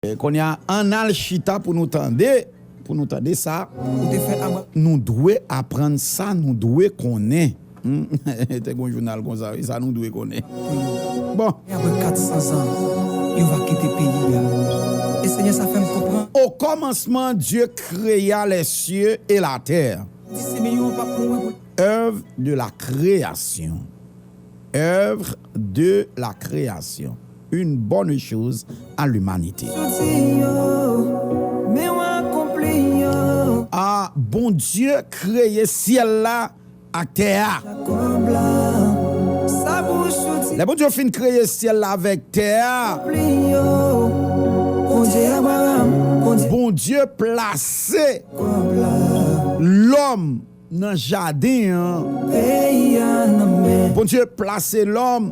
Konya ann al chita pou nou tande, pou nou tande sa ou te fè Abram. Nou dwe aprann sa nou dwe konnen. Humm te gen yon jounal konsa wi, sa nou dwe konnen. Pou yo. Bon. E apre kat san zan, yo va kite peyi a. E Senyè sa fè m konprann. O kòmansman Dye kreya lèsye e latè. Di Simeyon an p ap mouri pou l. Oeuvre de la création. Oeuvre. de la création une bonne chose à l'humanité. Ah Bondye kreye syèl la ak tè a. Lè Bondye fin kreye syèl la avèk tè a, Bondye plase lòm. nan jaden an. Bondye plase lòm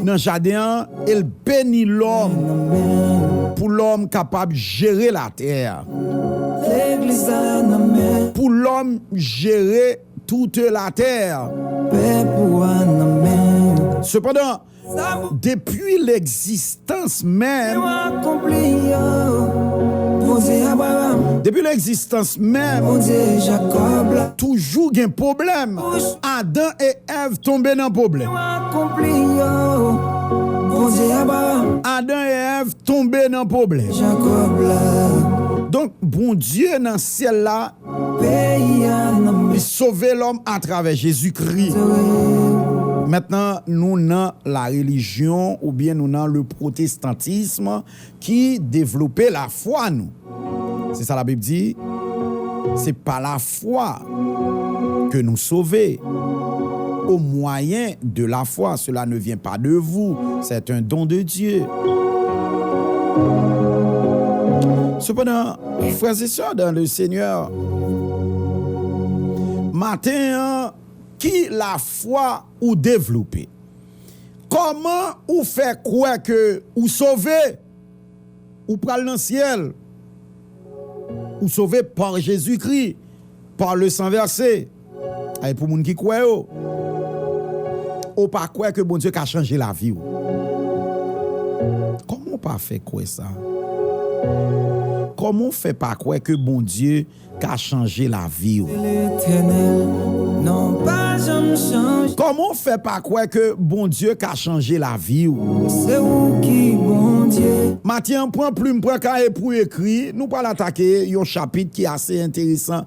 nan jaden an e l beni lòm pou lòm kapab jere latè a, pou lòm jere toute la terre. Sepandan. Depi legzistans menm. Depi legzistans menm. Toujou gen pwoblèm. Adan e Èv tonbe nan pwoblèm. Adan e Èv tonbe nan pwoblèm. Donk Bondye nan syèl la. Li sove lòm atravè Jezi Kri. Mentnan nou nan la relijyon oubyen nou nan le pwotestantism ki devlope lafwa nou. Se sa labib di, Se pa lafwa ke nou sove, o mwayen de lafwa, sela ne vyen pa de vou, sèt en don de Dye. Sepandan. Frères et sœurs dans le Seigneur, maten an ki lafwa ou devlope? Kòman ou fè kwè ke ou sove, ou pral nan syèl, ou sove par Jésus-Christ, par le sang versé? Ay pou moun ki kwè yo. Ou pa kwè ke Bondye ka chanje lavi ou. Kòman ou pa fè kwè sa? Kòman ou fè pa kwè ke Bondye ka chanje lavi ou? Kòman ou fè pa kwè ke Bondye ka chanje lavi ou? Maten an pran plim pran kaye pou ekri, nou pral atake yon chapit ki ase enteresan.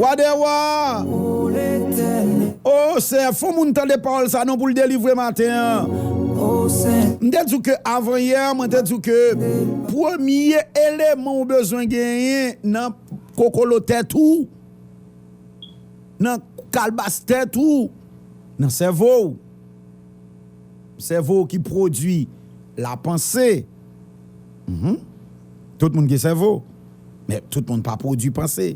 Wa dè wa O Senyè fon moun tande pawòl sa non poul delivre maten an M te di w ke avan yè mwen te di w ke premye eleman ou bezwen genyen nan kokolo tèt ou. nan kalbas tèt ou, nan sèvo w. Sèvo w ki pwodui lapanse. Tout moun gen sèvo, men tout moun pa pwodui panse.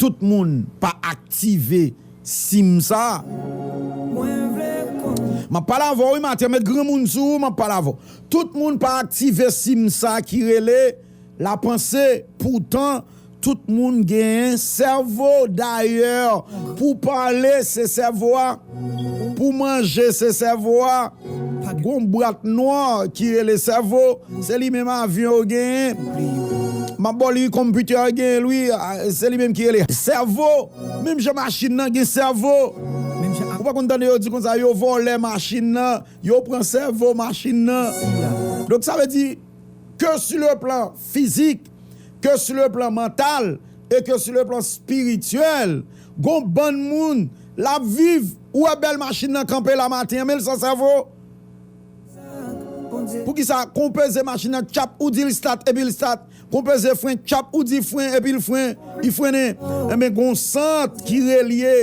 Tout moun pa aktive sim sa a. M ap pale avè w wi Matya, met granmoun sou ou m ap pale avè w. Tout moun pa aktive sim sa ki rele. La panse poutan tout moun gen sèvo dayè pou pale se sèvo a pou manje se sèvo a gon bwat nwa ki rele sèvo se li menm avyon yo genyen map baw li wi konpitè a genyen l wi se li menm ki rele sèvo menm jan machin nan gen sèvo ou pa konn tande yo di konsa yo vòlè machin nan yo pran sèvo machin nan donk sa vle di. ke su le plan fizik, ke su le plan mantal e ke su le plan spirityèl. Gon bann moun l ap viv, ou wè bèl machin nan kanpe la maten an men l san sèvo. Poukisa kon peze machin nan tchap ou di l stat epi l stat, kon peze fren tchap ou di fren epi l fren. Li frennen, enben gon sant ki relye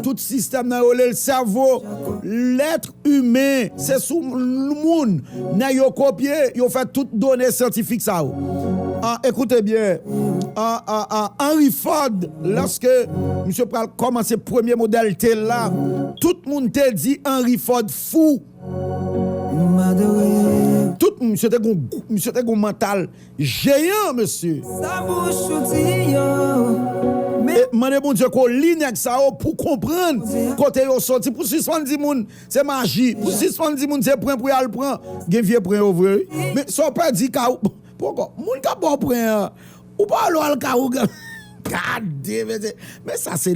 tout sistèm nan yo lel sèvo, lèt imen se sou moun nèg yo kopye yo fè tout done syantifik sa yo an ekoute byen Henry Ford lòske misye pral kòmanse premye modèl T la tout moun te di Henry Ford fou tout misye te gon misye te gon mantal Jeyan mesye. Sa bouch ou di yo men. E mande Bondye ko li nèg sa yo pou konprann kote yo soti pou sispann di moun se maji pou sispann di moun se pren pou yal pran gen vye pren yo vre wi men sa w pèdi ka ou poko moun kap baw pren an ou pa wè lè wal ka ougan gadee mesye men sa se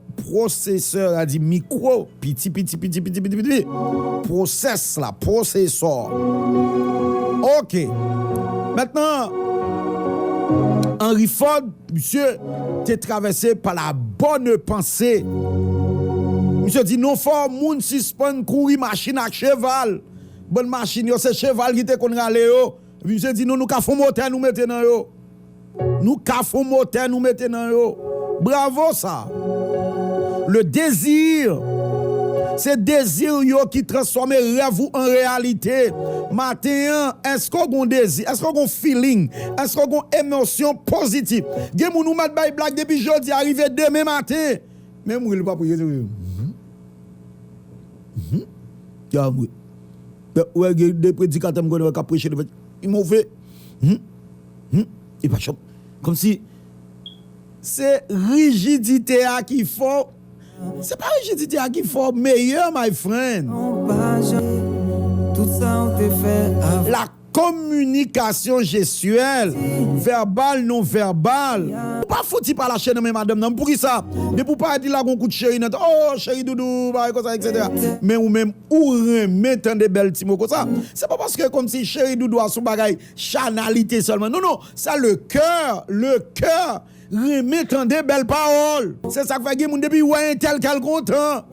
Pwosesè a di mikwo piti piti piti piti piti piti pwosès la pwosesò ok mentnan Henry Ford misye te travèse pa la bòne panse misye di non fò moun sispann kouri machin ak cheval bon machin yo se cheval ki te konn rale yo epi misye di non nou ka fon motè nou mete nan yo. Nou ka fon motè nou mete nan yo. Bravo sa. Le désir Se dezir yo ki transfòme rèv ou an reyalite. Maten an, èske w gon dezi? Èske w gon feeling? Èske w gon emosyon pozitif? Gen moun ou mèt bay blag depi jodi a rive demen maten, men m ri l pa pou jezi m humm kè a m ri. Ou wè gen de predikatè m konnen k ap preche devan m ri move humm. Hum e pa chòm kòm si. Se rijidite a ki fè w. Se pa rijidite a ki fè w meyè my friend. La kominikasyon jestyèl, vèbal, non vèbal. Ou pa fouti pa lache nan men madanm nan poukisa? Depi ou parèt li lage yon kout cheri nan tèt oh cheri doudou bagay konsa etc. Men ou menm ou renmen tande bèl ti mo konsa. Se pa paske kòm si cheri doudou a son bagay. Chanalite selman non non sa le coeur le coeur renmen tande bel pawol. Se sak fè gen moun depi wè entèl kèl kontan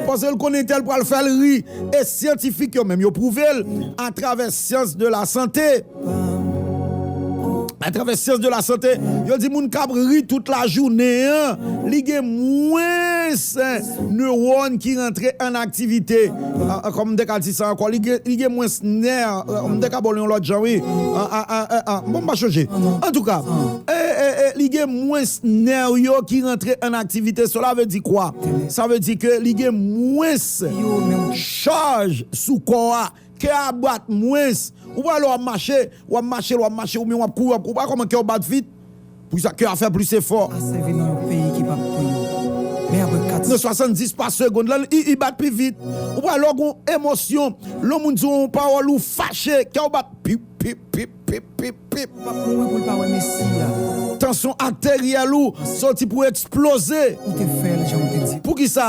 paske l konn entèl pral fèl ri e syantifik yo menm yo pwouve l a travè syans de la sante a travè syans de la sante yo di moun kap ri tout lajounen an li gen mwens Newòn ki rantre an aktivite, kòm m te ka di sa ankò, li gen mwens nè, m te ka ba w li yon lòt jan wi, bon m pa chonje. Antouka, li gen mwens nè yo ki rantre an aktivite, sela ve di kwa? Sa ve di ke li gen mwens chaj sou kò a. Kè a bat mwens. Ou pral wè wap mache, wap mache, wap mache oubyen wap kouri, wap kouri, ou pa wè kòman kè w bat vit? Pou sa kè a fè plis efò. A sèvi nan yon peyi ki pap pou yo. Men apre 4. Nan 70 pa segond lan li li bat pi vit. Ou pral wè w gon emosyon. Lè yon moun di w yon pawòl ou fache, kè w bat pip, pip, pip, pip, pip, pip. Ou pap mouri pou l pa wè mesi a. Tansyon ateryèl ou soti pou eksploze. Ou te fè l jan ou te di. Poukisa?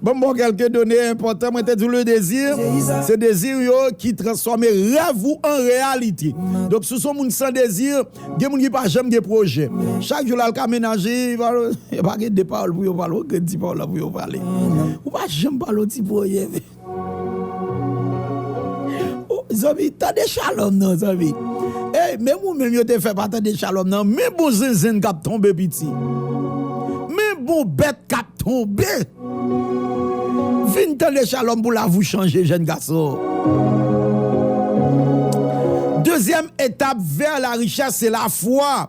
Banm baw kelke done enpòtan mwen te diw le désir se désir yo ki transfòme rèv ou an reyalite donk si w son moun san désir gen moun ki pa janm gen pwojè chak jou lal ka menaje yo pa gen de pawòl pou yo pale yo pa gen ti pawòl la pou yo pale ou pa janm pale yon ti pwojè. Oh zanmi tande shalom nan zanmi Ey menm ou menm yo te fè pa tande shalom nan men bon zenzenn kap tonbe piti men bon bèt kap tonbe Vin tande shalom pou lavi w chanje jèn gason Dezyèm etap vè la richès se lafwa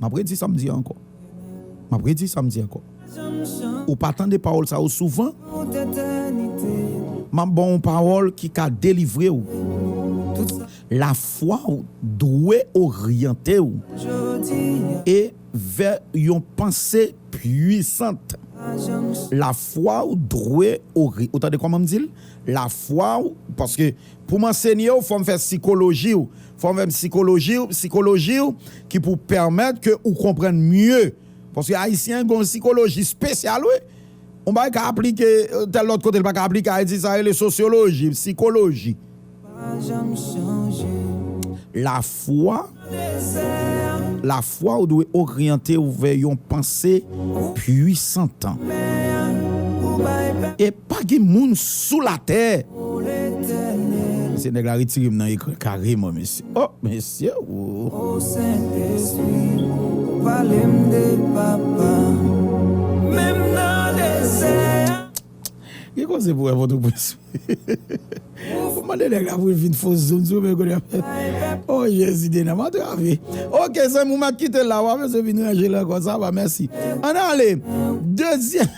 M ap redi sa m di a ankò. M ap redi sa m di ankò. Ou pa tande pawòl sa yo souvan? M ap ba w yon pawòl ki ka delivre w. Lafwa w dwe oryante w e vè yon panse pwisant. Lafwa w dwe ori. Ou tande kòman m di l? Lafwa w, paske pou m ansenye w, fò m fè sikoloji w. Fòmèm sikoloji ou psikoloji ou ki pou pèmèt ke ou konprann mye. Paske Ayisyen gen yon sikoloji spesyal wi. Yon bagay ka aplike tèl lòt kote li pa ka aplike Ayiti. Sa yo rele sosyoloji, psikoloji. Lafwa, Lafwa ou dwe oryante ou vè yon panse pwisantan. E pa gen moun sou latè. Mesye nèg la retirem nan ekran kareman mesye oh mesye ooh. Gen koze pou wè potoprens Ou mande nèg la pou l vin fo zoom sou men kounye a Oh jezi dena m antrave Ok zanmi m map kite l la wa bezwen vin ranje l ankò sa va mèsi Ann ale dezyèm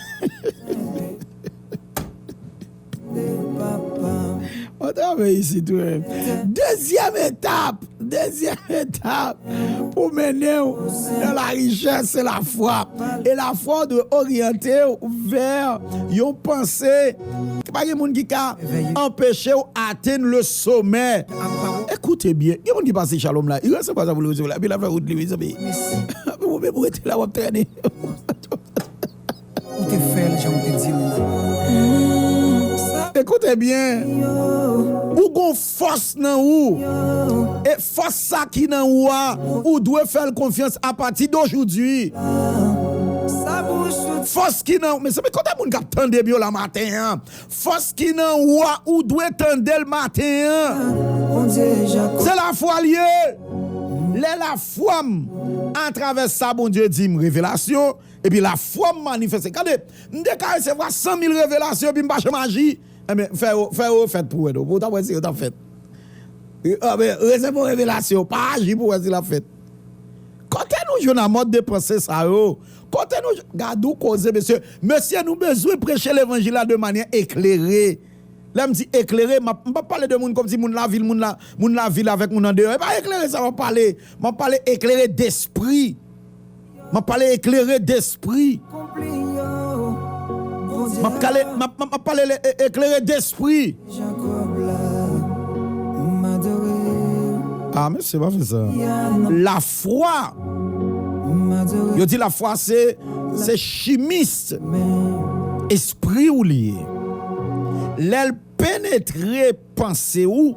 Wap travay isit wi. Dezyèm etap, dezyèm etap pou mennen w nan la richès se la fwa. E la fwa w dwe oryante w vè yon panse pa gen moun ki ka anpeche w atenn le somè. Ekoute byen, gen moun ki pase Shalom la, li resevwa sa pou l resevwa la epi lap fè wout li mezanmi. Epi ou menm ou rete la wap trennen. Ou te fèl janw te dil la. Ekoute byen, ou gon fòs nan ou, e fòs sa ki nan ou a, ou dwe fèl konfyans apati dojoudwi. Fòs ki nan ou, mezanmi kote moun kap tandem yo la maten an, fòs ki nan ou a, ou dwe tandel maten an. Se lafwa l ye, lè lafwam atravè sa Bondye dim, revelasyon, Epi lafwa m manifeste. Gade, m te ka resevwa san mil revelasyon epi m pa janm aji. Enben, fè yo, fè yo fèt pou w wè non, pou w ta wè si yo t ap fèt. Enben, resevwa yon revelasyon, pa aji pou w wè si l ap fèt. Kote nou jwenn a mòd de panse sa yo? Kote nou jwenn? Gade yon koze mesye! Mesye, nou bezwen preche levanjil la de manyè eklere. Lè m di eklere, m ap, m p ap pale de moun kòmsi moun lavil, moun la, moun lavil avèk moun andeyò. E pa eklere sa m ap pale. M ap pale eklere despri. Map pale eklere despri. Map kale map pale eklere despri. Ah mesye pa fè sa. La fwa. Yo di la fwa se se chimist. Espri ou li ye. Lèl penetre panse ou.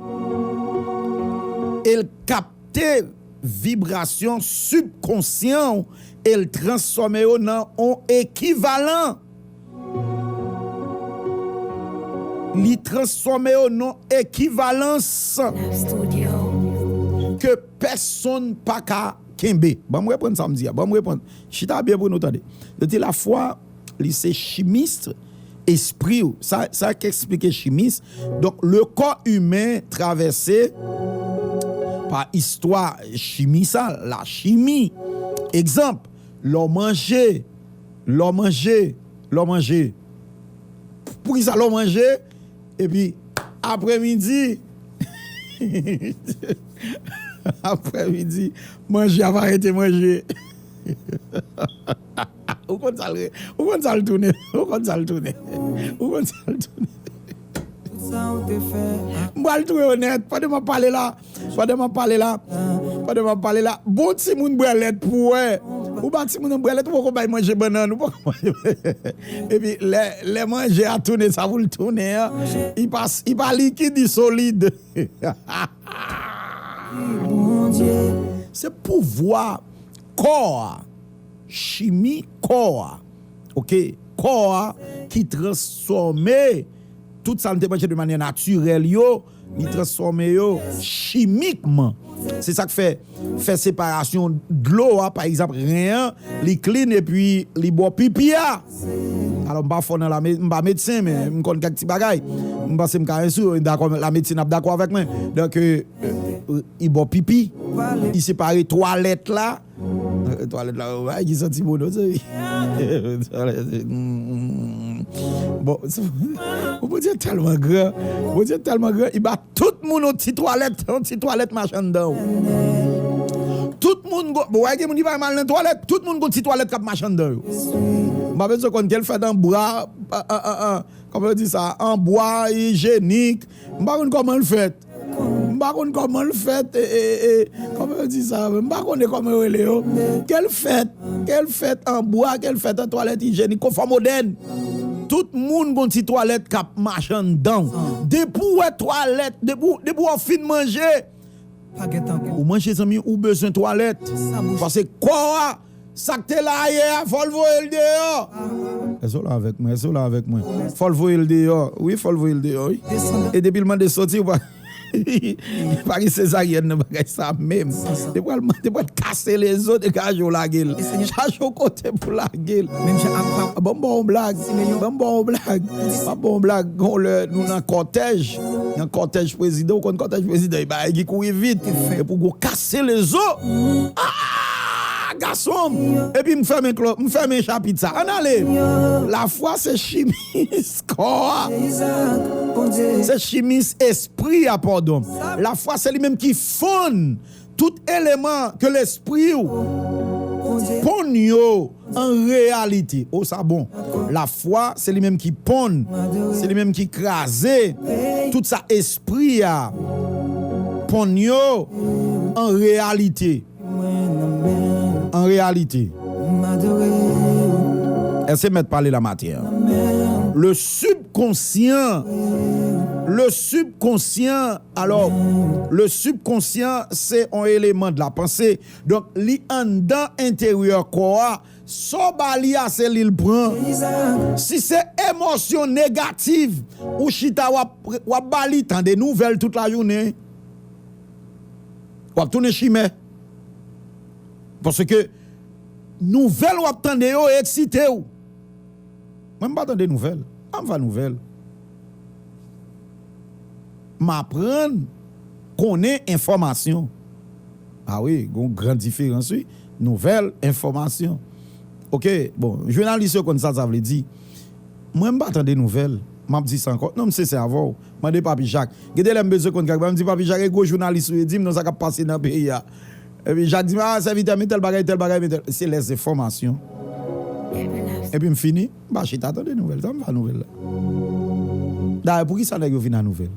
El kapte. vibrasyon sibkonsyan w e l transfòme yo nan on ekivalan. Li transfòme yo nan ekivalans ke pèsonn pa ka kenbe. Ban m reprann sa m di a. Ban m reprann. Chita byen pou nou tande. Yo di lafwa. Li se chimist espri w. Sa k esplike chimis. Donk le kò imen travèse pa istwa chimi sa, lachimi. Egzanp, lè w manje, lè w manje, lè w manje. Poukisa lè w manje epi apre midi apre midi manje a pa rete manje. Ou konn sa l re, ou konn sa l tounen, ou konn sa l tounen, ou konn sa l tounen. M pral touye w nèt pandan m ap pale la, pandan m ap pale la, pandan m ap pale la. Bon timoun bwè lèt pou w wè. Ou ba timoun nan bwè lèt, ou poko bay manje bannann, ou poko bay manje. Epi lè, lè manje a tounen sa pou l tounen an, li pa, li pa likid, li solid. Se pouvwa kò a. chimi kò a ok kò a ki transfòme tout sa nou te manje de manyè natirèl yo li transfòme yo chimikman se sak fè fè separasyon dlo a pa egzanp ren an li klin epi li bo pipi a alò m pa fò nan la me m pa medsen men m konn kèk ti bagay m panse m ka ensi w dakò la medsin ap dakò avèk mwen donk i bo pipi i separe twalèt la. Twalèt la bay ki santi bon non sèvi. Bon Bondye tèlman gran, Bondye tèlman gran li ba tout moun yon ti twalèt, yon ti twalèt mache anndan. Tout moun gon, bon wè gen moun ki pa renmen al nan twalèt, tout moun gon ti twalèt k'ap mache anndan yo. M pa bezwen konn ke l fèt an bwa, kòman yo di sa, an bwa, ijenik, m pa konn kòman l fèt. M pa konn kòman l fèt kòman yo di sa menm m pa konnen kòman yo rele yo ke l fèt ke l fèt an bwa ke l fèt an twalèt ijenik konfò modèn tout moun gon ti twalèt k ap mache anndan w depi w wè twalèt depi w fin manje ou manje zanmi ou bezwen twalèt paske kò a. Sak te la ayè a fòl voyel deyò. Èske w la avèk mwen? Èske w la avèk mwen? Fòl voyel deyò wi fòl voyel deyò wi e depil mande soti ou pa pa gen sezaryèn nan bagay sa menm te pral te pral kase lezot e chaje w lagel chaje w kote pou lagel bon m baw on blag bon m baw on blag map baw on blag gen yon lè nou nan kòtèj nan kòtèj prezidan ou konn kòtèj prezidan e bagay ki kouri vit e pou gwo kas. Se lezo aah gasonm. Epi m fèmen klo m fèmen chapit sa ann ale. Lafwa se chimis kò a. Se chimis espri a pòdon. Lafwa se li menm ki fonn tout eleman ke lespri ou ponn yo. An reyalite, o sa bon! Lafwa se li menm ki ponn, se li menm ki kraze tout sa espri a ponn yo an reyalite. An reyalite, e se mèt pale la maten an, le sibkonsyan, le sibkonsyan, alò, le sibkonsyan se on eleman de la panse. Donk li anndan enteryè kò a, sa w ba li a se li l pran. Si se emosyon negativ ou chita w ap ba li, tande nouvèl tout lajounen, w ap tounen chimè. Paske nouvèl w ap tande yo eksite w. Mwen m pa tande nouvèl. An m va nouvèl. M aprann konnen enfòmasyon. A wi, gen yon gran diferans wi. Nouvèl, enfòmasyon. Oke, bon, jounalis yo konn sa sa vle di. Mwen m pa tande nouvèl. M ap di sa ankò. Non, m sensè avè w. Mande Papi Jak. Gen de lè m bezwen konn kèk bagay, m di Papi Jak, e gwo jounalis ou ye, di m non sa k ap pase nan peyi a. Epi Jak di m, a, sèvitè m, e tèl bagay, tèl bagay, men tèl. Se lèzenfòmasyon. Epi m fini. M pa chita tande nouvèl, sa m fè a nouvèl la? Dayè poukisa nèg yo vin a nouvèl?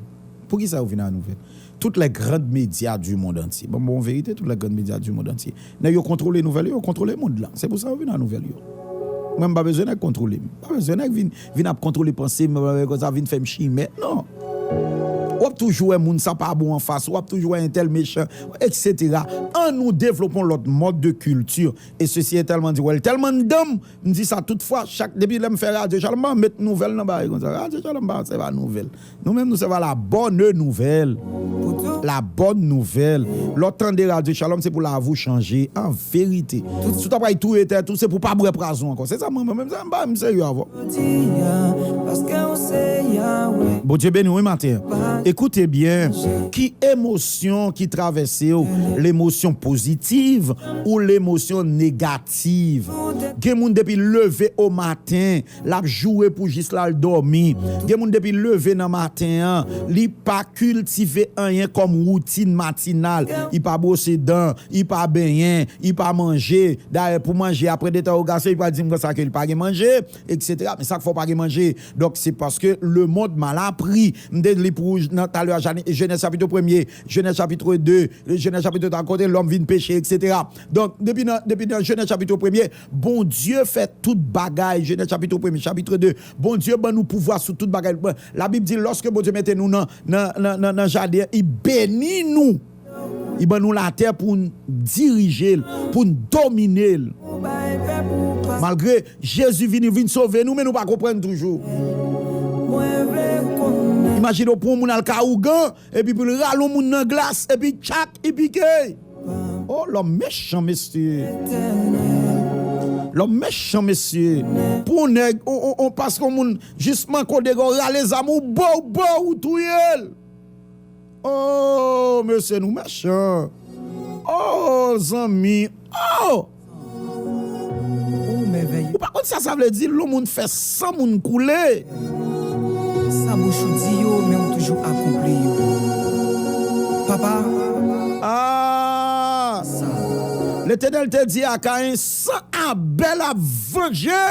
Poukisa yo vin a nouvèl? Toutes les grandes médias du monde entier, ban m ba w yon verite, toutes les grandes médias du monde entier, nèg yo kontwole nouvèl yo, yo kontwole mond lan, se pou sa yo vin a nouvèl yo. Mwen m pa bezwen nèg kontwole m, m pa bezwen nèg vin vin ap kontwole panse m, vin konsa vin fè m chimè, non! W ap toujou wè moun sa pa bon an fas ou, w ap toujou wè entèl mechan, etc. An nou devlopon lòt mòd de kilti, e sesi entèlman di wè l tèlman anndan m, M di sa tout fwa, chak depi lè m fè radyo Chalma, m met nouvèl nan bare konsa. Radyo Chalma se pa nouvèl. Nou menm nou se pa la bonne nouvelle. La bonne nouvelle. Lè w tande radyo Shalom se pou lavi w chanje an verite. Si w ta pral touye tèt ou, se pou w pa bwè pwazon ankò. Se sa mwen mwen menm, m pa menm serye avè w. Bondye beni w wi maten an. E koute byen, ki emosyon ki travèse w, lemosyon pozitiv ou lemosyon nega. aktiv. Gen moun depi l leve o maten l ap joure pou jis l al dòmi. Gen moun depi l leve nan maten an li pa kiltive anyen kòm woutin matinal. Li pa bwose dan, li pa benyen, li pa manje. Dayè pou manje apre dentèwogasyon li pral di m konsa ke li pa gen manje eksetera. Men sa k fè w pa gen manje? Donk se paske lemonn mal apri. M te li pou ou nan talè a Jenès chapitwo premye, Jenès chapitwo de, Jenès chapitwo twa kote lòm vin peche eksetera. Donk, depi nan, depi nan Jenèz chapitre premye, Bondye fè tout bagay, Jenèz chapitre premye, chapitre 2, Bondye ban nou pouvwa sou tout bagay, la Bib di lòske Bondye mete nou nan, nan, nan, nan, nan jaden an, li beni nou, li ban nou latè pou n' dirije l', pou n' domine l'. Malgre Jezi vini, vin sove nou men nou pa konprann toujou. Imajine w pou yon moun al ka ougan, epi pou l' rale yon moun nan glas, epi tchak, i pike. Oh lòm mechan mesye. Lòm mechan mesye. Pou on nèg on paske on moun jis manke w dega w rale zam ou bow bow ou touye l. Oh mesye nou mechan. Oh zanmi oh. Ou pa konn sa sa vle di lou moun fè san moun koule-Aa-Letenel te di a Kayen san Abel ap vanje.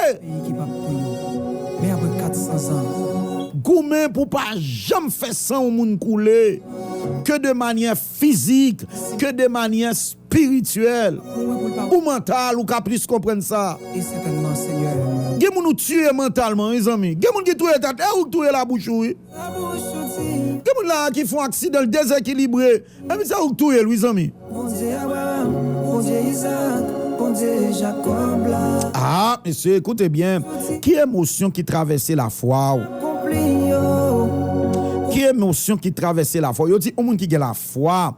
Goumen pou pa janm fè san ou moun koule, ke de manyè fizik, ke de manyè. Spirityèl. Ou mantal ou ka plis konprann sa. E sètènman Senyè. Gen moun ou tiye mantalman wi zanmi. Gen moun ki touye tèt e ou k touye labouch ou wi. Labouch ou di. Gen moun la a ki fon aksidan l dezekilibre epi se ou k touye l wi zanmi. Bondye Abraram, Bondye Izaak, Bondye Jakòb la. Aa mesye ekoute byen. Ki emosyon ki travèse lafwa ou? Akonpli yo. Ki emosyon ki travèse lafwa ou? Yo di yon moun ki gen lafwa.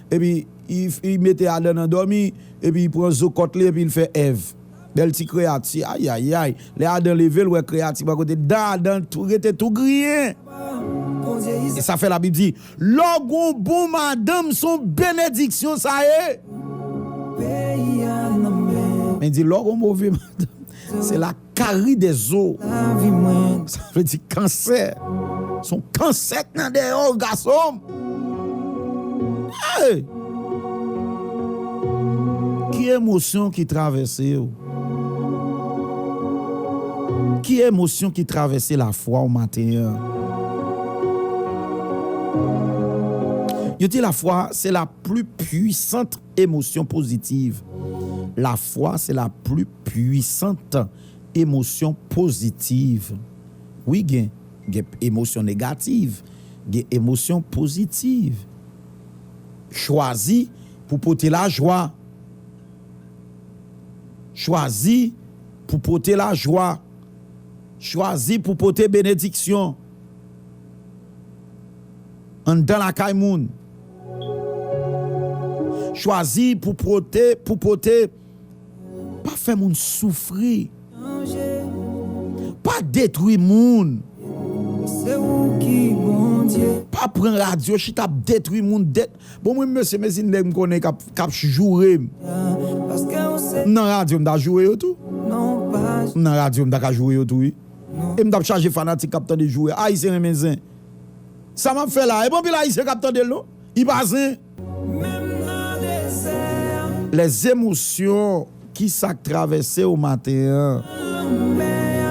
epi li mete Adan nan dòmi, epi li pran zo kòt li epi li fè Èv. Bèl ti kreyati, ayayay! Lè Adan leve, li wè kreyati pa kote, dan Adan rete tou griyen! E sa fè Labib di, Lè w gen yon bon madanm, se yon benediksyon sa ye! Men l di, Lè w gen yon move madanm, se la. Kari de zo sa vle di kansè son kansè k nan deyò w gason m eey. Ki emosyon ki travèse w? Ki emosyon ki travèse lafwa w maten an? Yo di lafwa se la pli pwisant emosyon pozitiv lafwa se la pli. Pwisant emosyon pozitiv wi gen gen emosyon negativ gen emosyon pozitiv chwazi pou pote lajwa chwazi pou pote lajwa chwazi pou pote benediksyon anndan lakay moun chwazi pou pote pou pote Pa fè moun soufri. Pa detwi moun. Pa pran radyo chita ap detwi moun. Bon mwen mesye mezi nèg m konnen kap joure m. M nan radyo m ta joure yo tou. M nan radyo m ta ka joure yo tou wi. E m tap chaje fanatik kap tande joure. Ayisyen renmen zen. Sa map fè la e pa anpil ayisyen kap tande l non. Li pa zen. Menm nan dezè. Les émotions Kisak travèse w maten an? Nan lanmè a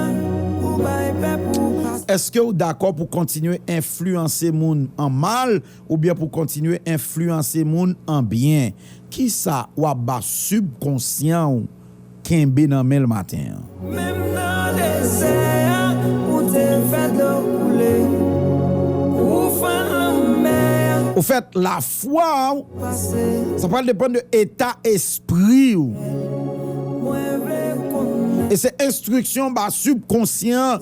Ou bay pèp ou pase. Eske w dakò pou kontinye enfliyanse moun an mal oubyen pou kontinye enfliyanse moun an byen? Kisa w ap ba sibkonsyan w? kenbe nan men l maten an. Menm nan dezè a ou te fè dlo koule ou fann lanmè a. Ofèt lafwa w sa pral depann de eta espri w e se enstriksyon ba sibkonsyan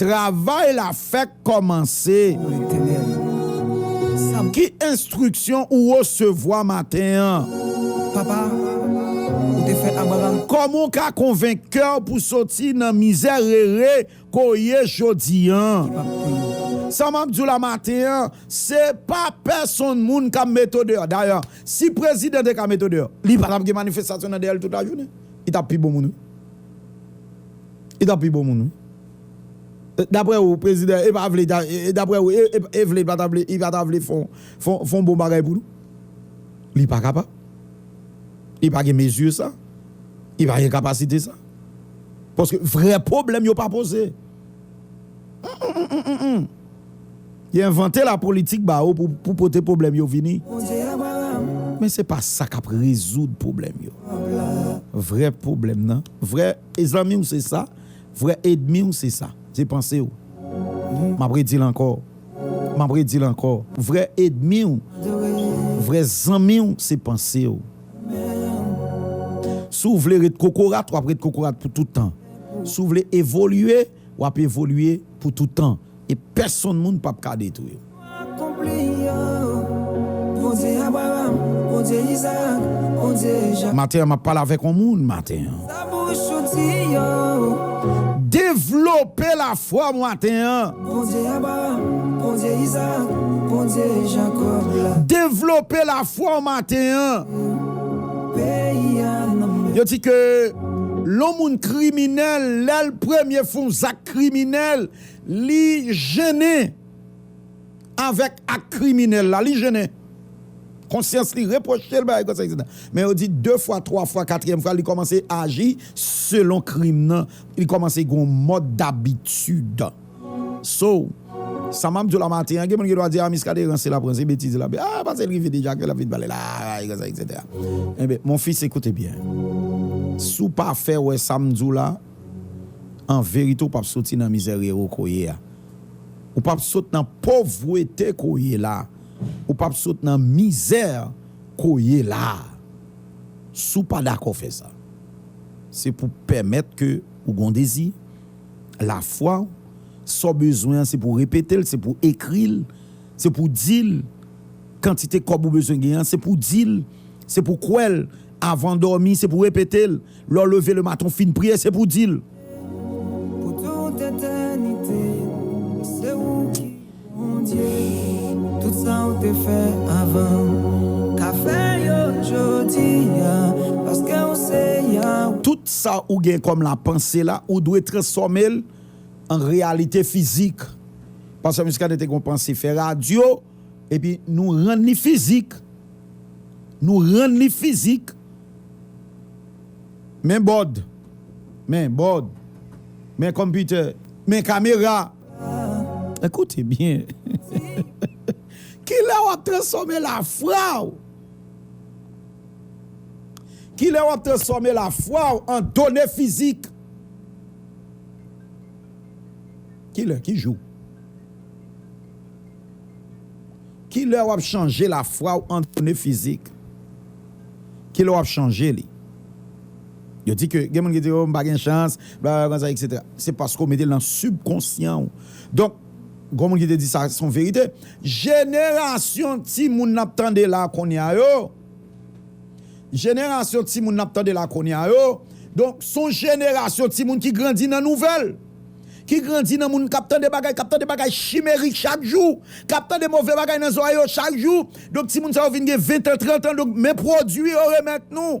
Travay la fèk kòmanse. Pou Letènèl. Sa. Ki enstriksyon ou resevwa maten an? Papa, ou te fè Abraram. Kòman w ka konvenk kè w pou soti nan mizèrere ke w ye jodi an? Ki pap pou yo. Sa m ap di w la maten an, se pa pèsonn moun k ap mete w deyò. Dayè, si prezidan te ka mete w deyò, li pa t ap gen manifestasyon nan dèyè l tout lajounen. Li t ap pi bon moun wi. Li tap pi bon moun wi. Daprè ou prezidan epa vle daprè ou e vle pata vle li pata vle fon bon bagay pou nou? Li pa kapab. Li pa gen mezi sa. Li pa gen kapasite sa. Paske vrè pwoblèm yo pa poze. Humm humm humm humm humm. Yo envante la politik ba ou pou pote pwoblèm yo vini. Men se pa sa k ap rezoud pwoblèm yo. Vrè pwoblèm nan, vrè zanmi w se sa, vrè edmi w se sa. Se panse w. M ap redi l ankò, m ap redi l ankò, vrè edmi w, vrè zanmi w se panse w. Si w vle ret kokorat, w ap ret kokorat pou tout tan. Si w vle evolye. w ap evolye pou toutan e pèsonn moun pap ka detwi w. Maten an m ap pale avèk yon moun maten an. Devlope lafwa w maten an. Devlope lafwa w maten an. Yo di ke. Lon moun kriminèl lèl premye fon zak kriminèl li jennen avèk ak kriminèl la li jennen konsyans li repwochel bagay konsa etc men yo di de fwa twa fwa katriyèm fwa li kòmanse aji selon krim nan li kòmanse gon mòd dabitid. So, sa map diw la maten an gen moun ki dwa di ah Miskaden ranse lap ranse betiz lap di ah pase l rive deja ke lap vin pale la ah e konsa etc. Enben mon fils écoute bien si w pa fè wè sam diw la an verite w pap soti nan mizèrere w ko ye a ou pap sot nan povrete ko ye la ou pap sot nan mizè ko ye la si w pa dakò fè sa se pou pèmèt ke ou gon dezi lafwa w, sa w bezwen an se pou w repete l, se pou w ekri l, se pou w di l, kantite kòb ou bezwen gen an se pou w di l, se pou w kwè l, avan w dòmi se pou w repete l, lè w leve lematen w fin priye se pou w di l. Bondye, tout sa ou te fè avan, ka fè yo jodi a, paske ou se Yahweh. Tout sa ou gen kòm la panse la, ou dwe transfòme l an reyalite fizik. Pastè Muscadin te gen yon panse fè radyo, epi nou rann li fizik. Nou rann li fizik. Men bòd. Men bòd. Men computer. Men kamera. Koute byen! Kilè w ap transfòme lafwa w? Kilè w ap transfòme lafwa w an done fizik? Kilè? Ki jou? Kilè w ap chanje lafwa w an done fizik? Kilè w ap chanje li? Yo di ke gen moun ki di oh m pa gen chans bla bla konsa etc. Se paske w mete l nan sibkonsyan w. Donk gon moun ki te di sa se yon verite. Jenerasyon timoun n ap tande la konnya yo, jenerasyon timoun n ap tande la konnya yo donk se yon jenerasyon timoun ki grandi nan nouvèl, ki grandi nan moun k ap tande bagay, k ap tande bagay chimerik chak jou, k ap tande move bagay nan zòrèy yo chak jou. Donk timoun sa yo vin gen ventan, trantan donk men pwodui yo remèt nou.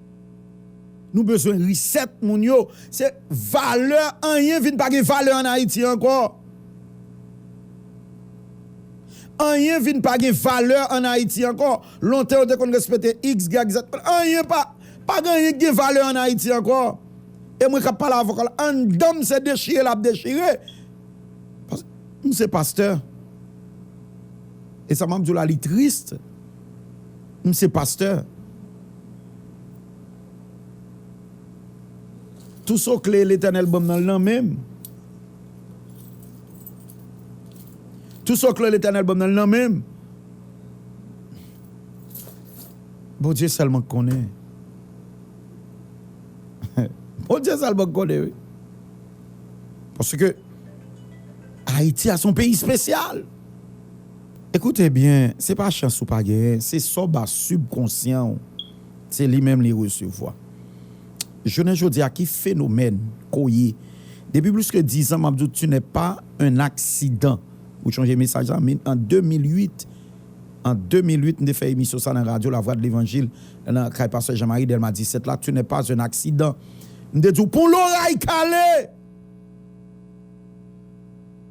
Nou bezwen reset moun yo se valè anyen vin pa gen valè an ayiti ankò anyen vin pa gen valè an ayiti ankò lontan yo te konn respete xyz anyen pa pa gen anyen ki gen valè an ayiti ankò e mwen kap pale avk la andanm se dechire lap dechire pask m se pastè e sa map diw la li triste. M se pastè. Tou so kle Letènèl ban m nan l nan men m. Tou so kle Letènèl ban m nan l nan men m. Bondye sèlman k konnen. Bondye sèlman k konnen wi. Paske Ayiti a s on peyi spesyal. Ekoute byen, se pa chans ou pa genyen, se sa w ba sibkonsyan w, se li menm li resevwa. Jounen jodi a, ki fenomèn ke w ye? Depi plis ke dizan, m ap di w, tu n'es pas un accident. Ou chonje mesaj la? Min, an 2008, an 2008, m te fè emisyon sa nan radyo Lavwa de Levanjil, nan kay pastè Jean Marie, Dèlma 17 la, tu n'es pas un accident. M te di w, pou loray kale!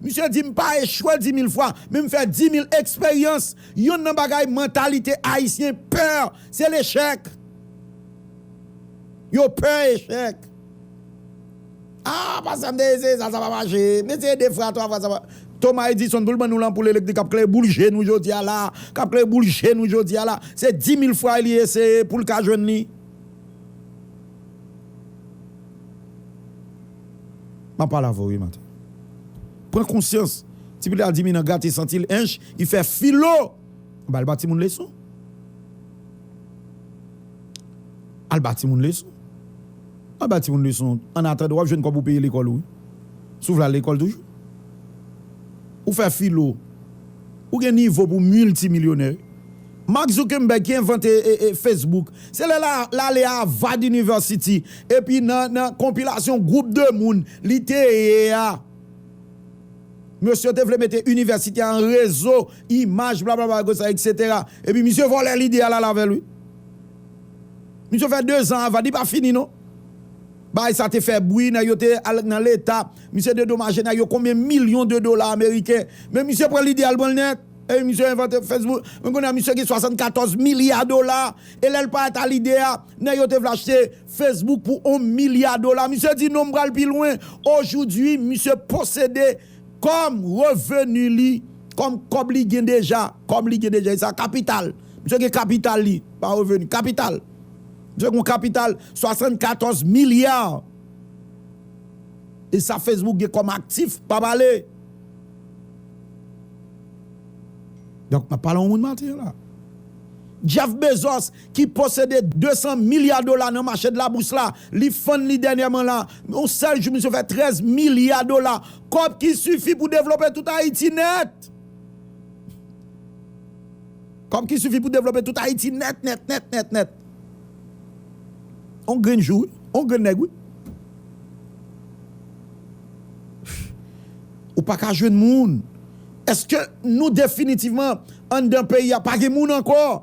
Misye di m pa echwe di mil fwa, men m fè di mil eksperyans. Yonn nan bagay mantalite Ayisyen pè, se lechèk. Yo pè echèk. A, pastè m te eseye sa, sa pa mache. M eseye de fwa, twa fwa, sa pa. Thomas Edison pou l ban nou lanpoul elektrik k ap klere boul je nou jodi a la a, k ap klere boul je nou jodi a la a, se di mil fwa li eseye pou l ka jwenn li. M ap pale avè w wi maten. Pran konsyans. Ti pitit la di Minan grate senti l ench li fè filo ba l ba timoun leson. Al ba timoun leson. Al ba timoun leson annatandan w ap jwenn kòb ou peye lekòl ou wi. Si w vle al lekòl toujou. Ou fè filo. Ou gen nivo pou w miltimilyonè wi. Mark Zuckerberg ki envante Facebook, se lè l ale Harvard University epi nan konpilasyon gwoup de moun li te ye a, mesye te vle mete inivèsite a an rezo imaj blablabla konsa eksetera epi misye vòlè lide a l al avè l wi. Misye fè dezan Harvard, li pa fini non. Bagay sa te fè bwi, nèg yo te al nan leta, misye dedomaje nèg yo konbyen milyon de dola ameriken, men misye pran lide a l pran l nèt. Epi misye envante Facebook, men kounye a misye gen 74 milya dola, e lè l pa ata lide a, nèg yo te vle achte Facebook pou 1 milya dola. Misye di non m pral pi lwen, ojoudwi misye posede kòm reveni li, kòm kòb li gen deja, kòm li gen deja e sa kapital, misye gen kapital li, pa reveni, kapital, misye gen yon kapital 74 milya, e sa Facebook gen kòm aktif, pa pale. Donk n ap pale yon moun matir la. Jeff Bezos ki posede 200 milya dola nan mache de la bous la, li fann li dènyèman la, yon sèl jou misye fè 13 milya dola, kòb ki sifi pou devlope tout Ayiti nèt! Kòb ki sifi pou devlope tout Ayiti nèt nèt nèt nèt nèt! Yon grenn jou wi, yon grenn nèg wi. Ou pa ka jwenn moun. Eske nou definitivman anndan peyi a pa gen moun ankò?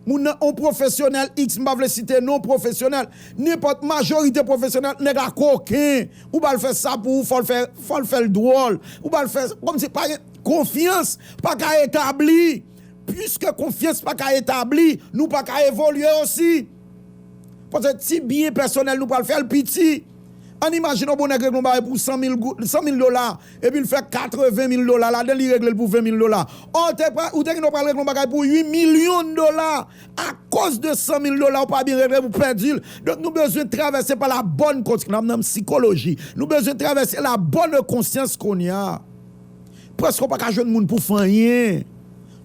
Moun nan on pwofesyonèl iks m pa vle site non pwofesyonèl, nenpòt majorite pwofesyonèl nèg la koken, ou ba l fè sa pou ou fò l fè fò l fè l dwòl, ou ba l fè kòm si pa gen konfyans pa ka etabli. Piske konfyans pa ka etabli, nou pa ka evolye osi. Paske ti byen pèsonèl nou pral fè l piti. Ann imajine yon bon nèg regle yon bagay pou san mil goud, san mil dola, epi l fè katreven mil dola ladan l, li regle l pou ven mil dola. Ò w te pral, ou te gen dwa pral regle yon bagay pou ui milyon dola, akoz de san mil dola ou pa byen regle l, ou pèdi l. Donk nou bezwen travèse pa la bòn kons, nan nan psikoloji, nou bezwen travèse la bonne conscience kounye a. Prèske ou pa ka jwenn moun pou fè anyen.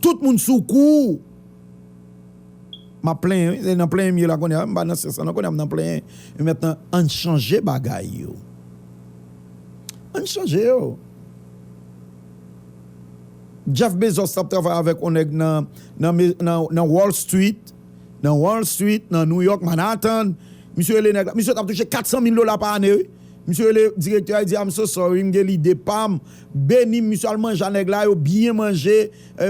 Tout moun sou kou. Map plenyen wi, se nan plenyen m ye la kounya, m pa nan syans lan non kounya m nan plenyen yo mèt nan ann chanje bagay yo ann chanje yo Jeff Bezos tap travay avèk yon nèg nan nan wall street nan wall street nan New York Manhattan misye rele nèg la misye tap touche 400 mil dola pa ane wi misye rele direktè a li di I'm so sorry m gen lide pam beni m misye al manje a nèg la yo byen manje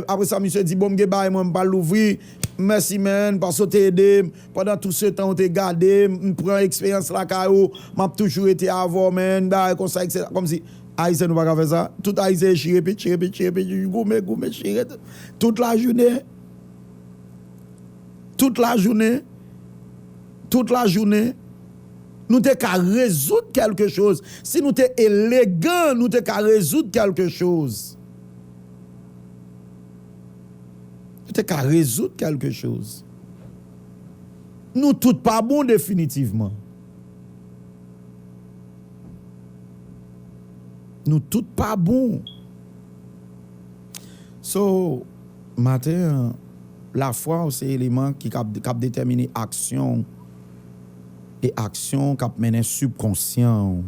Apre sa misye di bon m gen bagay mwen m pral louvri Mèsi man paske w te ede m pandan tout se tan ou te gade m m pran eksperyans lakay ou m ap toujou rete avè w man bagay konsa etc kòmsi Ayisyen nou pa ka fè sa tout Ayisyen e chire pit chire pit chire pit chire pit goumen goumen chire tout lajounen tout lajounen tout lajounen nou te ka rezoud kèlke choz si nou te elegan nou te ka rezoud kèlke choz. Yo te ka rezoud kèlke choz. Nou tout pa bon definitivman. Nou tout pa bon. So, maten an, lafwa w se eleman ki k ap detèmine aksyon w e aksyon w k ap mennen sibkonsyan w.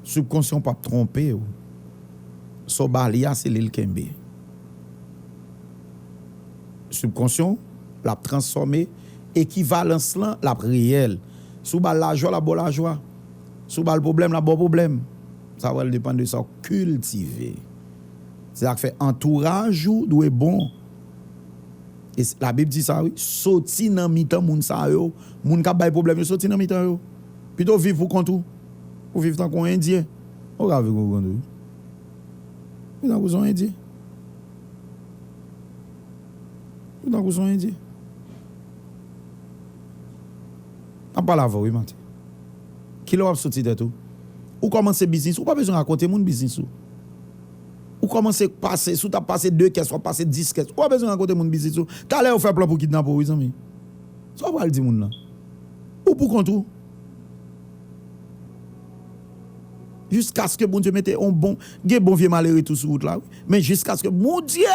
Subkonsyan w pap tronpe w. Sa w ba li a se li l kenbe. Subkonsyan w lap transfòme ekivalans lan lap reyèl. Si w ba l lajwa lap ba w lajwa. Si w ba l pwoblèm lap ba w pwoblèm. Sa pral depann de sa w kiltive. Se sak fè antouraj ou dwe bon. E la bib di sa wi, soti nan mitan moun sa yo, moun kap bay pwoblèm yo soti nan mitan yo. Pito w viv pou kont ou. Ou viv tankou yon endyen. Ou ka viv konprann wi. Ou tankou son endyen. Ou tankou son endyen. Map pale avèw wi maten. Kilè wap soti tèt ou. Ou kòmanse biznis ou pa bezwen rakonte moun biznis ou. Ou kòmanse pase si w tap pase 2 kès wap pase 10 kès. Ou pa bezwen rakonte moun biznis ou. Talè yo fè plan pou kidnape w wi zanmi. Sa w pral di moun nan. Ou pou kont ou. Jiskaske Bondye mete on bon, gen bon vye malere tou sou wout la wi, men jiskaske Bondye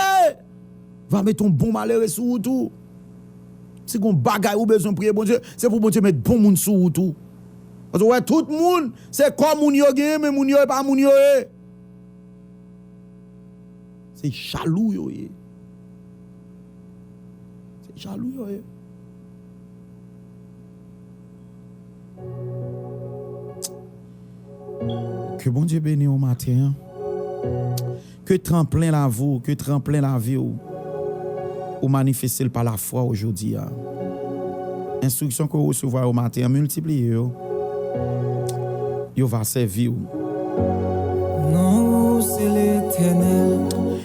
va mete on bon malere sou wout ou, si gon bagay ou bezwen priye Bondye, se pou Bondye met bon moun sou wout ou. Paske ou wè tout moun, se kò moun yo genyen men moun yo e pa moun yo ye. Se jalou yo ye. Se jalou yo ye. Ke Bondye beni ou maten an. Ke tan plen lavi ou, ke tran plen lavi ou. Ou manifeste l pa lafwa ou jodi a. Enstriksyon ke ou resevwa yo maten an, miltipliye yo. Yo va sèvi ou. Non ou se Letènèl.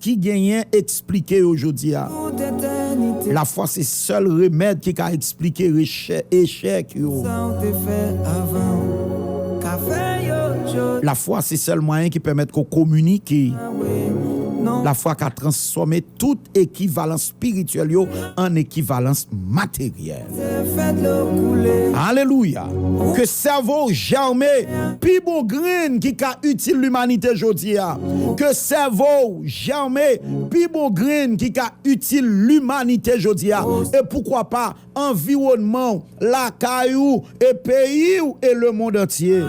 Ki genyen eksplike yo jodi a. Lafwa se sèl remèd ki ka eksplike echèk yo. Lafwa se sèl mwayen ki pèmèt ke w kominike. Lafwa ka transfòme tout ekivalans spirityèl yo an ekivalans materyèl. Alelouya! Ke sèvo w jème pi bon grenn ki ka itil limanite jodi a. Ke sèvo w jème pi bon grenn ki ka itil limanite jodi a. E poukwa pa anviwònman w, lakay ou, e peyi w e lemond antye.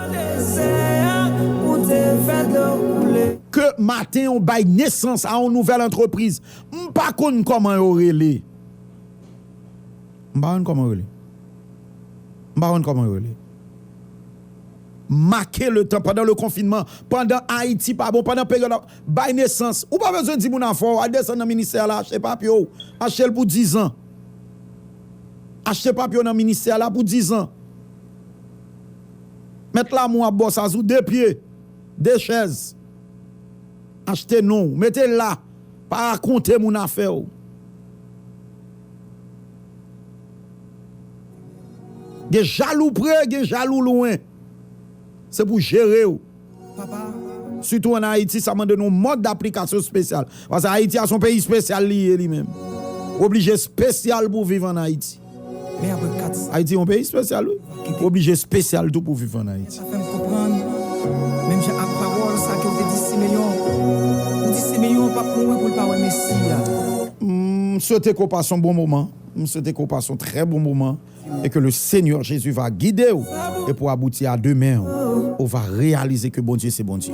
Ke maten w bay nesans a yon nouvèl antrepriz. M pa konn kòman yo rele. M pa konn kòman yo rele. M pa konn kòman yo rele. Make le tan pandan le konfinman, pandan Ayiti pa bon, pandan peryòd ap bay nesans. Ou pa bezwen di moun afè w, al desann nan ministè a la achte papye w. Achte l pou dizan. Achte papye w nan ministè a la pou dizan. Mèt Lamou ap ba w sa sou de pye, de chèz. Achte non w, mete l la. Pa rakonte moun afè w. Gen jalou pre, gen jalou lwen. Se pou jere w. Papa, sitou an Ayiti, sa mande nou mòd daplikasyon spesyal. Pase Ayiti a son peyi spesyal li ye li menm. Ou oblije spesyal pou viv an Ayiti. Ayiti yon peyi spesyal wi, ou oblije spesyal tou pou viv an Ayiti. M swete ke w pase yon bon moman, m swete ke w pase yon trè bon moman e ke le Senyè Jezi va gide w e pou abouti a demen w, ou va reyalize ke Bondye se Bondye.